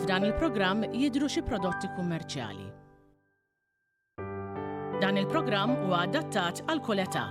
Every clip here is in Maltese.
F'dan il-programm jidhru xi prodotti kummerċjali. Dan il-programm huwa adattat għal kull età.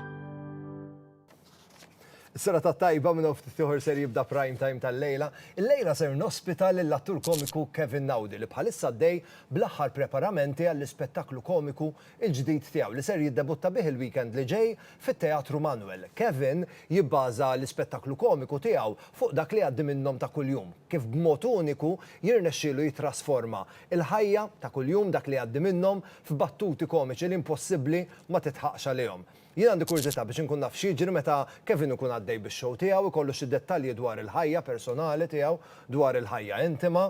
Is-sena ta' tajba minn oft tiħor ser jibda prime time tal-lejla. Il-lejla ser nospita lill-attur komiku Kevin Naudi li bħalissa dej bl-aħħar preparamenti għall-ispettaklu komiku il-ġdid tiegħu li ser jiddebutta bih il-weekend li ġej fit-Teatru Manuel. Kevin jibbaża l-ispettaklu komiku tiegħu fuq dak li jgħaddi minnhom ta' kuljum, kif b'mod uniku jirnexxielu jittrasforma l-ħajja ta' kuljum, dak li jgħaddi minnhom, f'battuti komiċi li impossibbli ma titħaqx għalihom. Jien għandi kurżità biex inkun naf x'jiġri meta Kevin ikun għaddej bix-show tiegħu, ikollu xi dettalji dwar il-ħajja personali tiegħu, dwar il-ħajja intima,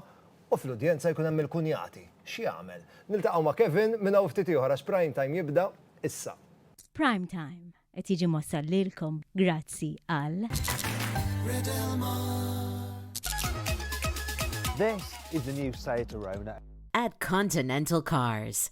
U fl-udjenza jkun hemm il-kunjati. X'jagħmel? Niltaqgħu ma' Kevin minn hawn ftit ieħor għax Prime Time jibda issa. Prime Time qed jiġi mwassal lilkom grazzi għal. This is the new Seat Arona. At Continental Cars.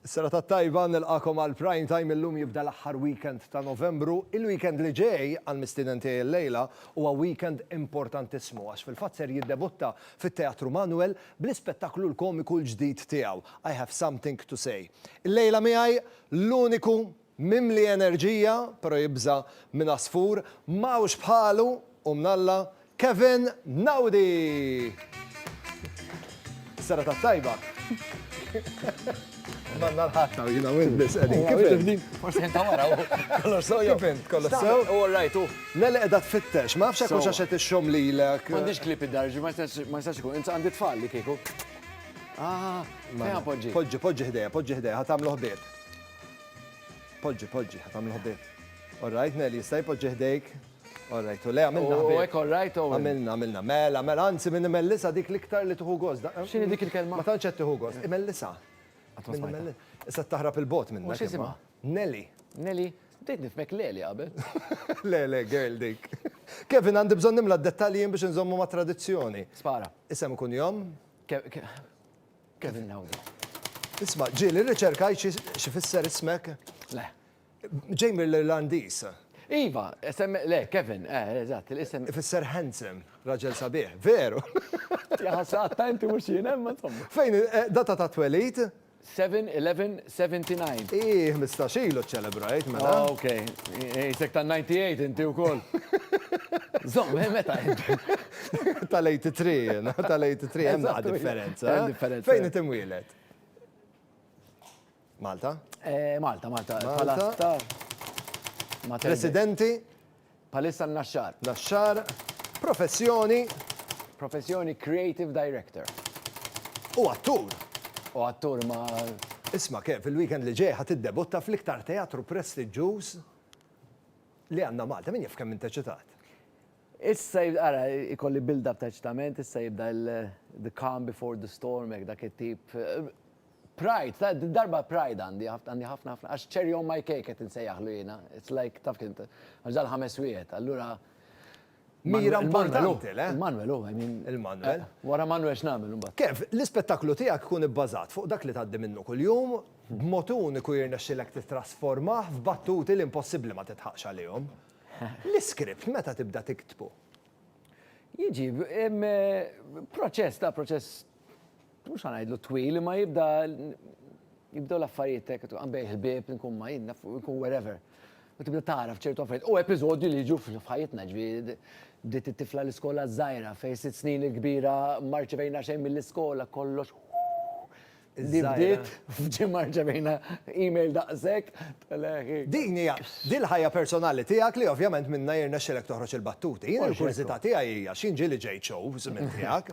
Serata tajba, nilqagħkom għal Prime Time, illum jibda l-aħħar weekend ta' Novembru. Il-weekend li ġej, għall-mistieden tiegħi illejla, huwa weekend importantissimu għax fil-fatt ser jiddebutta fit-Teatru Manuel bl-ispettaklu l-komiku l-ġdid tiegħu, I Have Something to Say. Illejla miegħi l-uniku, Mimli enerġija, pero jibża' minn għasfur, m'hawnx bħalu u mnalla, Kevin Naudi! Serata t-tajba. Manna l-ħatta u jina win bis għedin. Kif din? Forsi jinta wara u kollox sew jew. Kif int kollox sew? U rajt u. Nele edha tfittex, ma fxek u xaxet il-xom li l-ek. Għandix klip id-darġi, ma jistax ikun, insa għandi tfal li kieku. Ah, ma poġġi. Poġġi, poġġi ħdeja, poġġi ħdeja, ħatamlu ħbieb. Poġġi, poġġi, ħat għamlu ħbib. Orrajt, Nelly, jista' jpoġġi ħdejk. Orrajt, u le, għamilna ħbib. U għek, orrajt, u. Għamilna, għamilna, mela, mela, anzi minn mellisa dik liktar li tuħu gos. Xini dik il-kelma? Ma tanċet tuħu gos, imellisa. Issa taħrab il-bot minn. Mux jisima? Nelly. Nelly, bdejt nifmek Leli għabel. Le, le, girl dik. Kevin, għandi bżon nimla d-dettaljien biex nżommu ma' tradizjoni. Spara. Isem kun jom? Kevin Lauda. Isma', ġieli rriċerkajt x'ifisser ismek? Le. Ġej mill-Irlandiż. Iva, isem, le, Kevin, eh, eżatt, l-isem. Ifisser handsome, raġel sabiħ, veru. Jaħasaqat ta' inti mhux jien, imma insomma. Fejn, eh, data ta' twelid? 7-11, 79. Ii, ħmistax ilu ċċelebrajt, mela. Oh, ok. Qisek tan-98 inti wkoll. Żomm, eh, meta int? Tal-83 jiena, tal-83 hemm naqa' differenza. Hemm differenza. Fejn int imwieled? Malta? Eh, Malta, Malta. Malta. Residenti? Bħalissa n-naxxar. Naxxar, professjoni. Professjoni, creative director. U attur. U attur ma. Isma' Kev, fil-weekend li ġej ħa tiddebutta fl-iktar teatru prestiġġuż li għandna Malta. Min jaf kemm int eċitat? Issa ara ikolli build up ta' eċitament, issa jibda the calm before the storm hekk dak it-tip. Pride, ta' din darba pride għandi, għandi ħafna ħafna, għax cherry on my cake qed insejjaħlu jiena. It's like, taf kien, għax dal-ħames wieħed, allura. Mira importanti, le? Il-Manuel, oh, I mean. Il-Manuel. Eh, wara Manuel x'nagħmel imbagħad. Kev, l-ispettaklu tiegħek ikun ibbażat fuq dak li tgħaddi minnu kuljum, b'mod uniku jirnexxilek titrasformah f'battuti li impossibbli ma titħaqx għalihom. L-iskript meta tibda tiktbu? Jiġi, eh, proċess ta' proċess mhux ħa ngħidlu twil, imma jibda jibdew l-affarijiet hekk għambejh il-bieb, nkun ma jinn, nkun wherever. U tibda tagħraf ċertu affarijiet. U episodju li jiġu f'ħajjitna ġifieri bdiet it-tifla l-iskola żgħira fejn sitt snin il-kbira marċevejna xejn mill-iskola kollox li bdiet f'ġimgħa marċevejna email daqshekk. Din hija din ħajja personali tiegħek li ovvjament minnha jirnexxilek toħroġ il-battuti. Jien il-kurżità tiegħi hija x'inġieli ġejt show żmien tiegħek.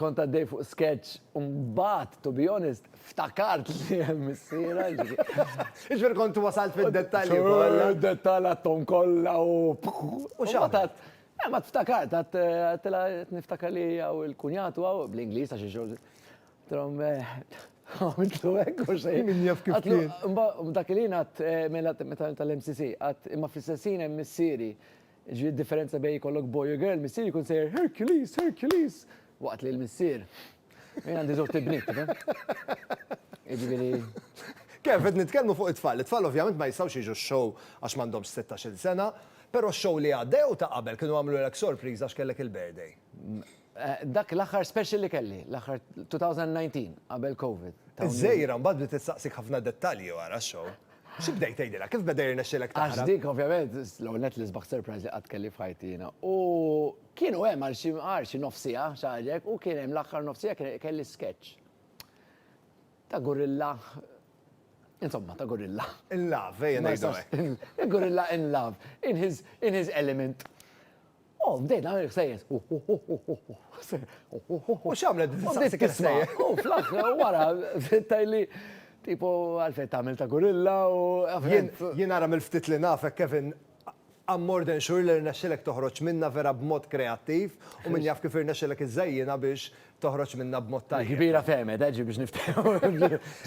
Kont għaddej fuq sketch u mbagħad, to be honest, ftakart li hemm missiera. Jiġifieri kont wasalt fid-dettalji kollha. Id-dettall għadthom kollha u. U x'għamilt? Eh, ma tftakart, għedtilha qed niftakar li hija u l-kunjat u hawn, bl-Ingliż għax ix-xogħol. Għedtilhom, għamiltlu hekk u xejn. Min jaf kif kien. Dak il-ħin għedt, mela meta tal-MCC, għedt imma fl-istess ħin hemm missieri. Jiġifieri d-differenza bejn jkollok boy u girl, missier jkun sejjer Hercules, Hercules! Waqt li l-missier, jien għandi żewġt ibniet, tifhem? Jiġifieri. Kev, qed nitkellmu fuq it-tfal. It-tfal ovvjament ma jistgħux jiġu x-show għax m'għandhomx sittax-il sena, però x-show li għadda jew ta' qabel kienu għamlulek sorpriża għax kellek il-birthday? Dak l-aħħar special li kelli, l-aħħar 2019, qabel Covid. Iż-żgħira mbagħad bdiet issaqsik ħafna dettalji wara x-show. Xi bdejt tgħidilha? Kif beda jirnexxilek taħrab? Għax dik ovvjament, l-ewwel nett l-isbaħ surprise li qatt kelli f'ħajti jiena. U kienu hemm għal xi għal xi nofs siegħa, xi ħaġa hekk, u kien hemm l-aħħar nofs siegħa kien kelli sketch ta' gorilla, insomma ta' gorilla. In love, ejja ngħidu hekk. Gorilla in love, in his in his element. U bdejt nagħmel il-ħsejjes. U x'għamlet bdiet tistaqsik il-ħsejjes? U fl-aħħar wara bdiet tgħidli tipo għalfejn tagħmel ta' gurilla u fhimt. Jien ara mill-ftit li nafek Kevin, I'm more than sure li rnexxielek toħroġ minnha vera b'mod kreattiv u min jaf kif irnexxielek iżżejjinha biex toħroġ minnha b'mod tajjeb. Il-kbira fehmet, eh, ġiet biex niftehmu.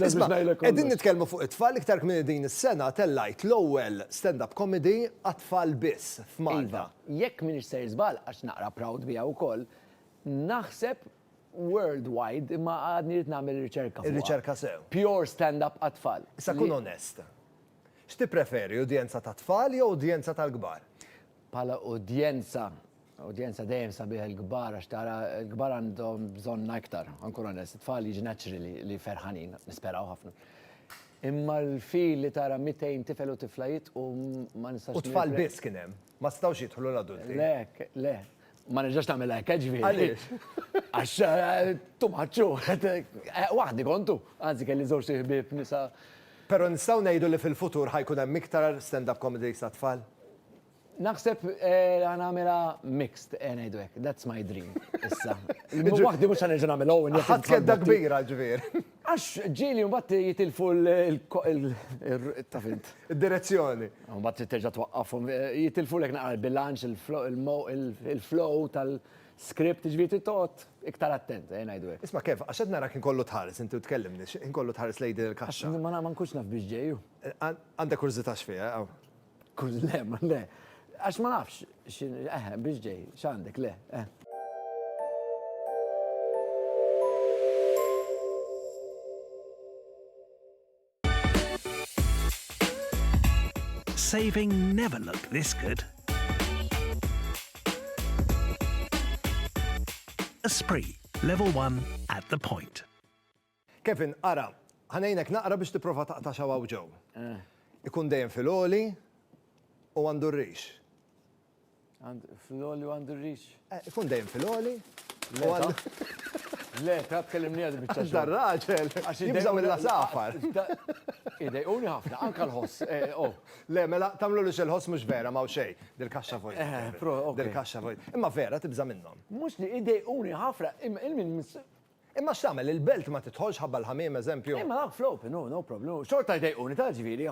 Isma', qegħdin nitkellmu fuq it-tfal, iktar kmieni din is-sena tellajt l-ewwel stand-up comedy għat-tfal biss f'Malta. Iva, jekk m'iniex ser żball, għax naqra proud biha wkoll, naħseb worldwide, imma għadni rrid nagħmel riċerka fuqha. Ir-riċerka sew. Pure stand-up għat-tfal. Issa kun onest. X'tippreferi, udjenza tat-tfal jew udjenza tal-kbar? Bħala udjenza Udjenza dejjem sabiħ il-kbar għax tara l-kbar għandhom bżonna iktar, ankun onest, it-tfal jiġi naturally li ferħanin, nisperaw ħafna. Imma l-feel li tara 200 tifel u tifla jidħqu ma nistax. U tfal biss kien hemm, ma setgħux jidħlu l-adulti. Le, le, ma nerġax nagħmel hekk eh, ġifieri. Għaliex? Għax eh, tu maċċu, eh, waħdi kontu, anzi kelli żewġ ħbieb nisa. Però nistgħu ngħidu li fil-futur ħajkun hemm iktar stand-up comedy sa tfal? Naħseb ħa nagħmilha mixed, ejja ngħidu hekk, that's my dream issa. Waħdi mhux ħa nerġa' nagħmel Owen. Ħadt kedda kbira ġifier. Għax ġieli mbagħad jitilfu taf int. Id-direzzjoni. Mbagħad trid terġa' twaqqafhom, jitilfulek naqra l-bilanċ, il-flow tal-script, ġifieri trid toqgħod iktar attent, ejja ngħidu hekk. Isma' Kev, għax qed narak inkollu tħares, inti u tkellimni, inkollu tħares lejn din il-kaxxa. Ma nkunx naf biex ġej hu. Għandek kurżità x'fiha? Kuz, le, ma le. Għax ma nafx, xin, eħe, biex ġej, xandek, le, eh. Saving never looked this good. Esprit, level one at the point. Kevin, ara, ħa ngħinek naqra biex tipprova taqta' x'hawn hawn ġew. Ikun dejjem fil-għoli u għandu r-rix. Fl-għoli u għandu r-rix? Ikun dejjem fil-għoli u għandu. Le, ta' tkellimni għad bieċa. Għax dar raġel, għax jibżaw il-lasafar. Idej, uni ħafna, anka l-ħoss. Eh, oh. Le, mela, tamlu li xil-ħoss mux vera, ma' xej, dil-kaxxa vojt. Eh, eh, dil-kaxxa vojt. Imma vera, tibża minnom. Mux li idej, uni ħafna, il-min Imma x'tagħmel, il-belt ma tidħolx ħabba l-ħamiem, eżempju. Imma dawk fl-open, hu, no problem, hu, xorta jdejquni, taf ġifieri,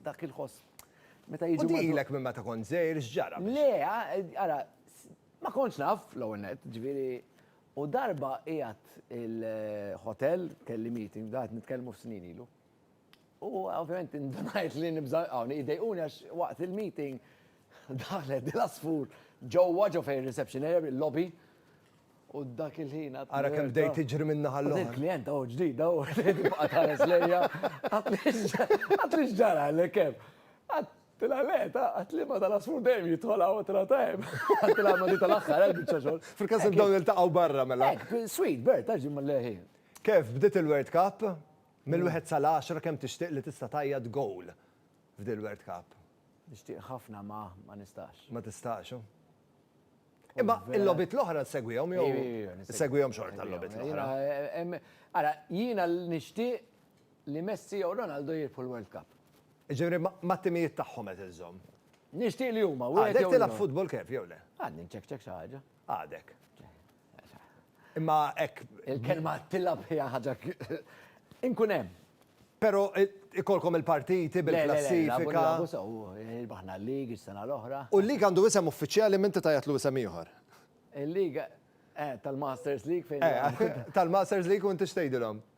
dak il-ħoss meta jiġu. U dilek minn meta kont żgħir x'ġara biex. Le, ara, ma kontx naf, l-ewwel nett, ġifieri, u darba qiegħed il-ħotel, kelli meeting, bda qed nitkellmu f'snin ilu, U ovvjament indunajt li nibża hawn idejquni għax waqt il-meeting daħlet dil-asfur ġewwa ġo fejn reception area bil-lobby u dak il-ħin għad. Ara kemm bdejt tiġri minn naħa l-oħra. Il-klient hawn ġdid hawn tibqa' tħares lejja. Għad li x'ġara li kemm. Għad tilha le ta' għad li ma tal-asfur dejjem jidħol hawn tilha ta' hemm. Għad tilha ma di tal-aħħar hemm biċċa xogħol. Fil-każ li dawn iltaqgħu barra mela. Sweet bird ta' ġimma leħi. Kif bdiet il-World Cup? Mill-wieħed sal-għaxra kemm tixtieq li tista' tgħajjat goal f'dil-World Cup? Nixtieq ħafna ma ma nistax. Ma tistax, hu. Imma il-logħbiet l-oħra ssegwihom jew issegwihom xorta l-logħbiet l-oħra? Ara, jiena nixtieq li Messi jew Ronaldo jirbħu l-World Cup. Jiġifieri mat-timijiet tagħhom qed iżżomm. Nixtieq li huma. Għadek tilgħab futbol Kev jew le? Għadni nċekċek xi ħaġa. Għadek. Imma hekk. Il-kelma tilab hija ħaġa inkun hemm. Però ikolkom il-partiti bil-klassifika. Abu sew, il-baħna l-lig is-sena l-oħra. U l-lig għandu isem uffiċjali minti tajatlu isem ieħor. Il-lig tal-Masters League fejn. Tal-Masters League u inti x'tgħidilhom?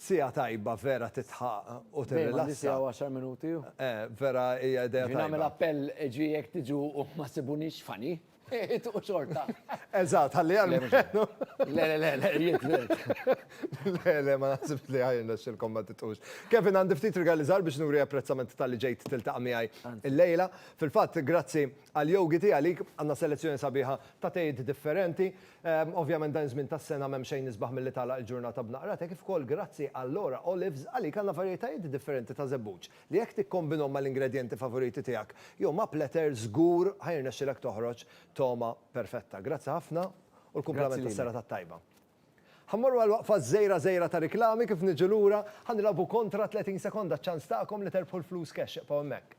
Siegħa tajba vera titħaq u tirrilassa. Dejjem għandi siegħa u għaxar minuti. Eh, vera hija idea tajba. Jien nagħmel appell ġi jekk tiġu u ma ssibunix funny, itqu xorta. Eżatt, ħalli almenu. Le, le, le, le, jien tliet. Le, le, ma naħsibx li ħajr nexxilkom ma titqux. Kevin għandi ftit rigali żgħar biex nuri apprezzament talli ġejt tiltaqa' miegħi llejla. Fil-fatt, grazzi Għal Yogi tiegħi għalik għandna selezzjoni sabiħa ta' tejiet differenti. Ovvjament dan iż-żmien tas-sena m'hemm xejn isbaħ milli tagħlaq il-ġurnata b'naqra te kif ukoll grazzi għal Laura Olives għalik għandna varjetajiet differenti ta' żebbuġ li jekk tikkombinhom mal-ingredjenti favoriti tiegħek jew ma' pletter żgur ħa jirnexxilek toħroġ togħma perfetta. Grazzi ħafna u l-kumplament tas-serata t-tajba. Ħa mmorru għal waqfa żgħira żgħira ta' riklami kif niġu lura ħa nilgħabu kontra 30 sekonda ċ-ċans tagħkom li terbħu l-flus cash ibqgħu hemmhekk.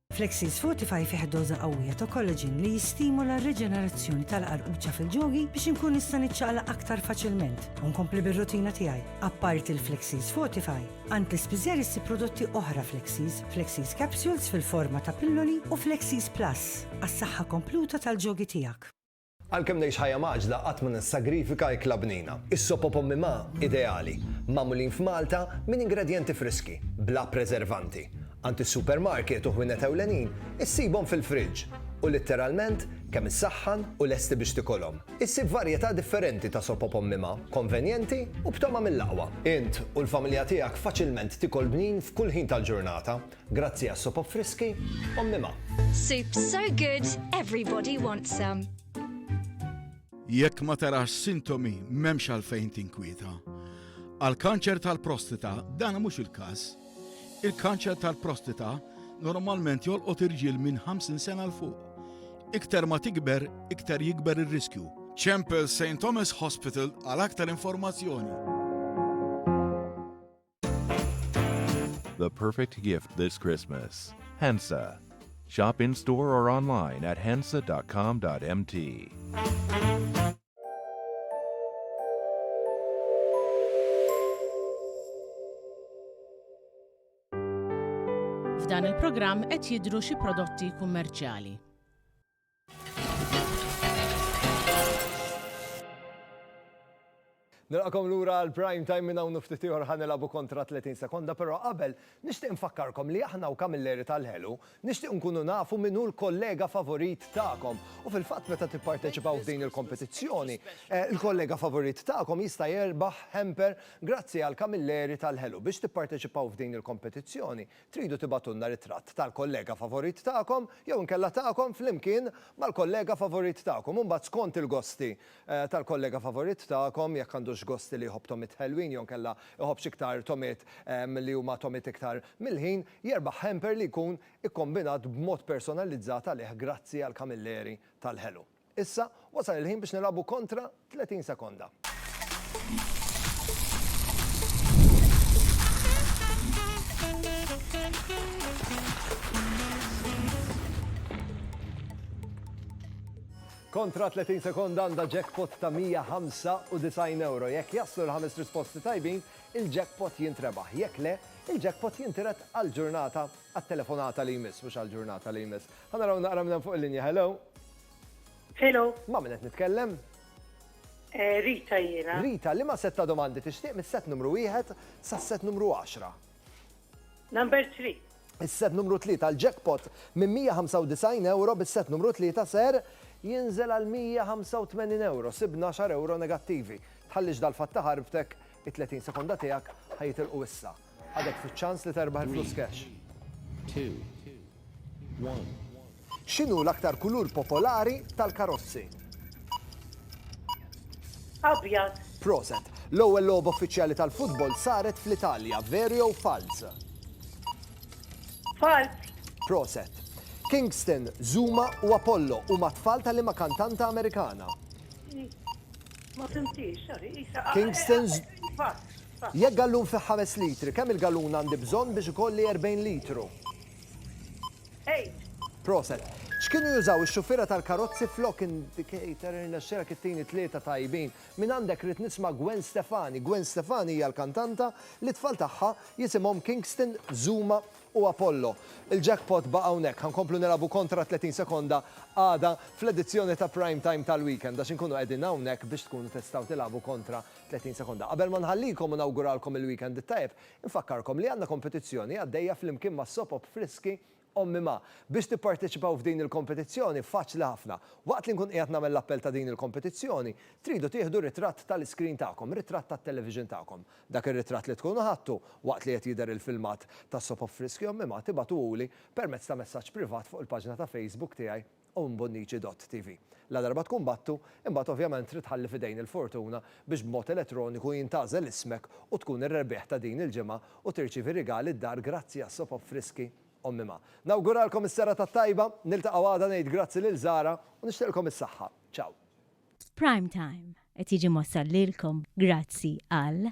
Flexis Fortify fih doża qawwija ta' collagen li jistimula r-riġenerazzjoni tal-qarquċa fil-ġogi biex inkun nista' niċċaqlaq aktar faċilment u nkompli bir-rutina tiegħi. Apparti l-Flexis Fortify, għand l-ispiżer issib prodotti oħra Flexis, Flexis Capsules fil-forma ta' pilloli u Flexis Plus għas-saħħa kompluta tal-ġogi tiegħek. Għalkemm ngħix ħajja mgħaġġla qatt ma nissagrifika ikla bnina. Is-sop u pommi ma, ideali. Magħmulin f'Malta minn ingredjenti friski, bla preservanti. Għand is-supermarket u ħwienet ewlenin issibhom fil-friġġ u litteralment kemm issaħħan u lesti biex tikolhom. Issib varjetà differenti ta' sop u pommi ma, konvenjenti u b'togħma mill-aqwa. Int u l-familja tiegħek faċilment tikol bnin f'kull ħin tal-ġurnata. Grazzi għas-sopop friski, ommi ma. Soup's so good, everybody wants some. Jekk ma tarax sintomi m'hemmx għalfejn tinkwieta. Għal kanċer tal-prostita dan mhux il-każ. Il-kanċer tal-prostita normalment jolqot irġiel minn 50 sena l fuq. Iktar ma tikber, iktar jikber ir-riskju. Chempel St. Thomas Hospital għal aktar informazzjoni. The perfect gift this Christmas. Hensa. Shop in store or online at hensa.com.mt. F'dan il-programm qed jidhru xi prodotti kummerċjali. Nilqakom lura għal prime time minn hawn ftit ieħor ħa nilagħbu kontra 30 sekonda, però qabel nixtieq nfakkarkom li aħna u Kamilleri tal-Ħelu nixtieq nkunu nafu min hu l-kollega favorit tagħkom. U fil-fatt meta tipparteċipaw f'din il-kompetizzjoni, eh, il-kollega favorit tagħkom jista' jerbaħ hamper grazzi għal Kamilleri tal-Ħelu. Biex tipparteċipaw f'din il-kompetizzjoni, Tridu tibagħtulna ritratt tal-kollega favorit tagħkom jew inkella tagħkom flimkien mal-kollega favorit tagħkom u mbagħad skont il-gosti tal-kollega favorit tagħkom, jekk għandux gosti li jħobb tomiet ħelwin jew inkella jħobbx iktar tomiet li huma tomiet iktar milħin, jerbaħ hamper li jkun ikkombinat b'mod personalizzat għalih grazzi għall-kamilleri tal-ħelu. Issa, wasal il-ħin biex nilagħbu kontra 30 sekonda. Kontra 30 sekonda għandha jackpot ta' €195. Jekk jaslu l-ħames risposti tajbin, il-jackpot jintrebaħ. Jekk le, il-jackpot jintiret għal ġurnata għat-telefonata li jmiss, mhux għal ġurnata li jmiss. Ħa naraw naqra minn fuq il-linja, hello. Hello. Ma' min qed nitkellem? Eh, Rita jiena. Rita, li ma setta domandi tixtieq mis-set numru wieħed sas-set numru 10? Number 3. Is-set numru 3 tal-jackpot minn 195 euro bis-set numru 3 ser jinżel għal 185 euro, sibna 10 euro negattivi. Tħallix dal-fatt ta' ħarbtek, it-30 sekonda tiegħek ħajitilqu issa. Għadek fiċ-ċans li terbaħ il-flus cash. X'inhu l-aktar kulur popolari tal-karozzi? Abjad. Proset. L-ewwel logħba uffiċjali tal-futbol saret fl-Italja, veru jew falz? Falz. Proset. Kingston, Zuma u Apollo huma tfal ta' liema kantanta Amerikana? Ma fimtix, sorry. Kingston. Jekk gallun fih ħames litri, kemm il-gallun għandi bżonn biex ikolli erbgħin litru? Eight. Proset. X'kienu jużaw ix-xuffiera tal-karozzi flok indicator irnexxielek ittini tlieta tajbin. Mingħandek rrid nisma' Gwen Stefani. Gwen Stefani hija l-kantanta li t-tfal tagħha jisimhom Kingston, Zuma u Apollo. Il-jackpot baqa' hawnhekk. Ħa nkomplu nilagħbu kontra 30 sekonda għada fl-edizzjoni ta' Prime Time tal-weekend għax inkunu qegħdin hawnhekk biex tkunu tistgħu tilagħbu kontra 30 sekonda Qabel ma nħallikom u nawguralkom il-weekend it-tajjeb, infakkarkom li għandna kompetizzjoni għaddejja flimkien ma' Sopop Friski Ommi Ma. Biex tipparteċipaw f'din il-kompetizzjoni faċli ħafna. Waqt li nkun qiegħed nagħmel l-appell ta' din il-kompetizzjoni, tridu tieħdu ritratt tal-iskrin tagħkom, ritratt tat-television tagħkom. Dak ir-ritratt li tkunu ħadtu waqt li qed jidher il-filmat ta' Sopop Friski Ommi Ma tibagħtuhuli permezz ta' messaġġ privat fuq il-paġna ta' Facebook tiegħi u mbunniċi dott TV. Ladarba tkun battu, imbagħad ovvjament trid tħalli f'idejn il-fortuna biex b'mod elettroniku jintgħażel ismek u tkun ir-rebbieħ ta' din il-ġimgħa u tirċievi rigali d-dar grazzi għas-soap op friski Omm Imma. Nawguralkom is-serata t-tajba, niltaqgħu għada ngħid grazzi lil Zara u nixtieqlkom is-saħħa. Ciao. Prime Time qed jiġi mwassal lilkom grazzi għal.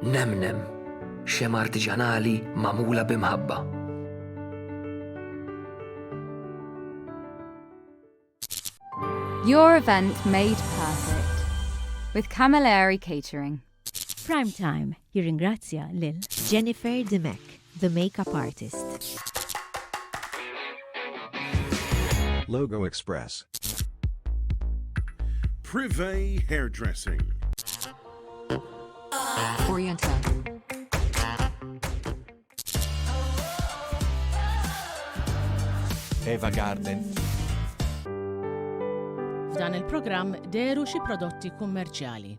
Nemnem, xema artiġanali magħmula b'imħabba. Your event made perfect with Camilleri Catering. Prime Time jirringrazzja lil Jennifer Dimech. The Makeup Artist. Logo Express. Privé Hairdressing. Oriental. Eva Garden. F'dan il-programm deru xi prodotti kummerċjali.